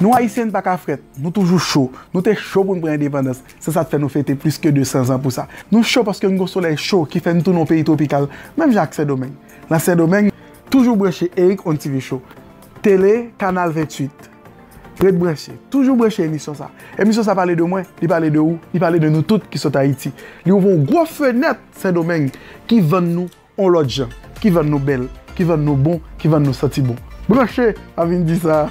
Nou Ayisyen n pa ka frèt, nou toujou cho. Nou te cho pou n pran endepandans, se sa k fè nou fete plis ke 200 zan pou sa. Nou cho paske n gen yon solèy cho ki fè n tounen yon peyi twopikal, menm jan ak Sendomeng. Nan Sendomeng, toujou branche Eric on TV Show, tele, kanal 28. Ret branche, toujou branche emisyon sa. Emisyon sa pale de mwen, li pale de ou, li pale de nou tout ki sot Ayiti. Li ouvè yon gwo fenèt Sendomeng ki vann nou yon lòt jan, ki vann nou bèl, ki vann nou bon, ki vann nou santi bon. Branche! M'a vin di sa.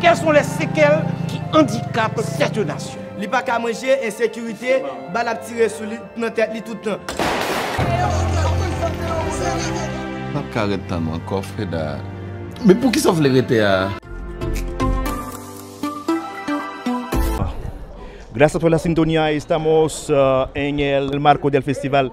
Quels sont les sequelles ki andikap cette nation? Li pa ka manje, ensekirite, bal ap tire sou li, nan tèt li tout tan. M pap ka ret tann ou ankò Freda. Men poukisa w vle rete a? Gracias por la sintonía estamos en el marco del festival.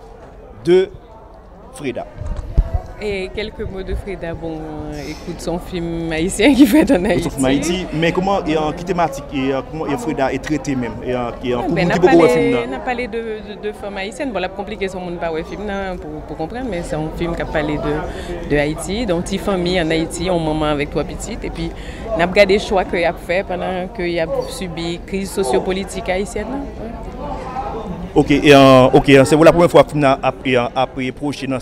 de Freda. E kelke mo de Freda bon ekout son fim ayisyen ki fèt an Ayiti. Son fim ayiti men kouman e an ki tematik e an kouman e Freda e trete menm e an ki an pou moun ki poko wè fim nan. Nan pale de de fanm ayisyen bon lap konplike son moun pa wè fim nan pou konprann men son fim kap pale de de Ayiti don ti fanmi an Ayiti yon manman avèk 3 pitit epi nap gade chwa ke yap fè pandan ke yap sibi kriz sosyo politik ayisyèn nan. Ok ok se pou la premye fwa fim nan ap pwoche nan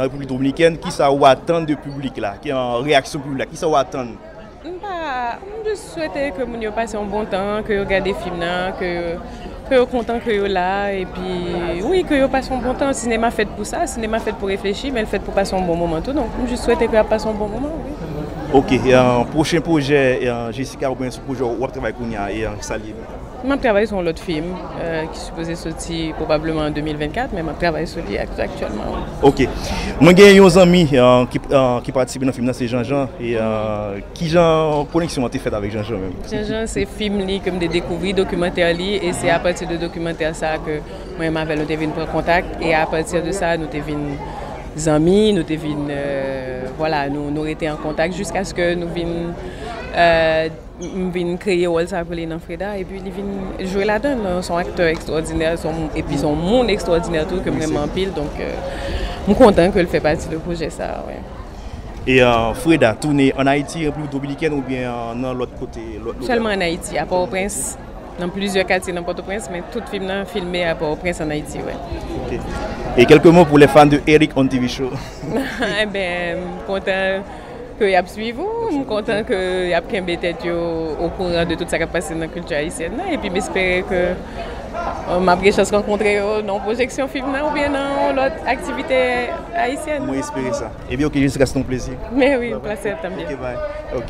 repiblik dominikèn kisa ou atann de piblik la reyaksyon piblik la kisa ou atann m pa m jis swete ke moun yo pase yon bon tan ke yo gade fim nan ke yo kontan ke yo la epi wi ke yo pase yon bon tan sinema fèt pou sa sinema fèt pou reflechi men l fèt pou pase yon bon moman tou donk m jis swete ke yo ap pase yon bon moman wi ok pwochen pwojè Jessica oubyen sou pwojè w ap travay kounya e sa l ye menm. M ap travay sou yon lòt fim ki sipoze soti pwobableman an 2024 men m ap travay sou li aktyèlman wi. Ok. Mwen gen yon zanmi ki patisipe nan fim nan se Janjan. Kijan koneksyon an te fèt avèk Janjan menm? Janjan se fim li ke m te dekouvri, dokimantè li e se apati de dokimantè sa ke mwen menm avè l nou te vin pran kontak e apati de sa nou te vin zanmi, nou te vin vwala nou rete an kontak jiskaske nou vin. M vin kreye wòl sa pou li nan Freda epi li vin jwe ladan l. S on aktè ekstwòdinè epi s on moun ekstwòdinè tou ke m renmen anpil donk m kontan ke l fè pati de pwojè sa a. E Freda tounen an Ayiti, Repiblik Dominikèn oubyen nan lòt kote? Sèlman an Ayiti, a Pòtoprens, nan plizyè katye nan Pòtoprens men tout fim nan filme a Pòtoprens an Ayiti wi. Ok. E kèlke mo pou lè fan de Erick on TV show? Enben m kontan. ke yap swiv ou, m kontan ke yap kenbe tèt yo okouran de tout sa kap pase nan kilti ayisyèn nan epi m espere ke map gen chans rankontre yo nan yon pwojeksyon fim nan oubyen nan yon lòt aktivite ayisyèn. Mwen espere sa. Ebyen ok jiska se te yon plezi. Mèwi, yon plase tanbyen. Ok bye. Ok.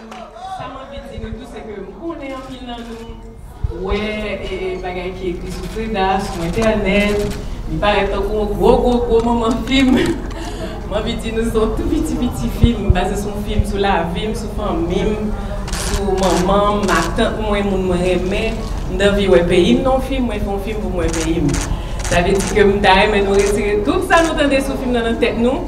Sa m anvi di nou tou se ke m konnen anpil nan nou wè bagay ki ekri sou Freda a sou entènèt, li parèt tankou yon gwo gwo gwo manman fim. M anvi di nou se yon tou piti piti fim, baze sou yon fim sou lavi m, sou fanmi m, sou manman m, matant mwen, moun mwen renmen. M t anvi wè peyi m nan yon fim, mwen fè yon fim pou m wè peyi m. Sa vle di ke m ta renmen nou retire tout sa nou tande sou fim nan nan tèt nou.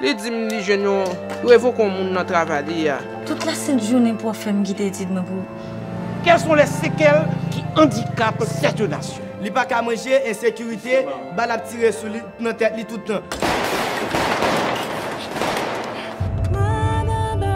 Li di m li jwenn yon revoke yon moun nan travay li a. Tout la sent jounen pou ap fè m kite etid mwen pou. Quelles sont les séquelles qui handicapent cette nation? Li pa ka manje, ensekirite, bal ap tire sou li, nan tèt li tout tan.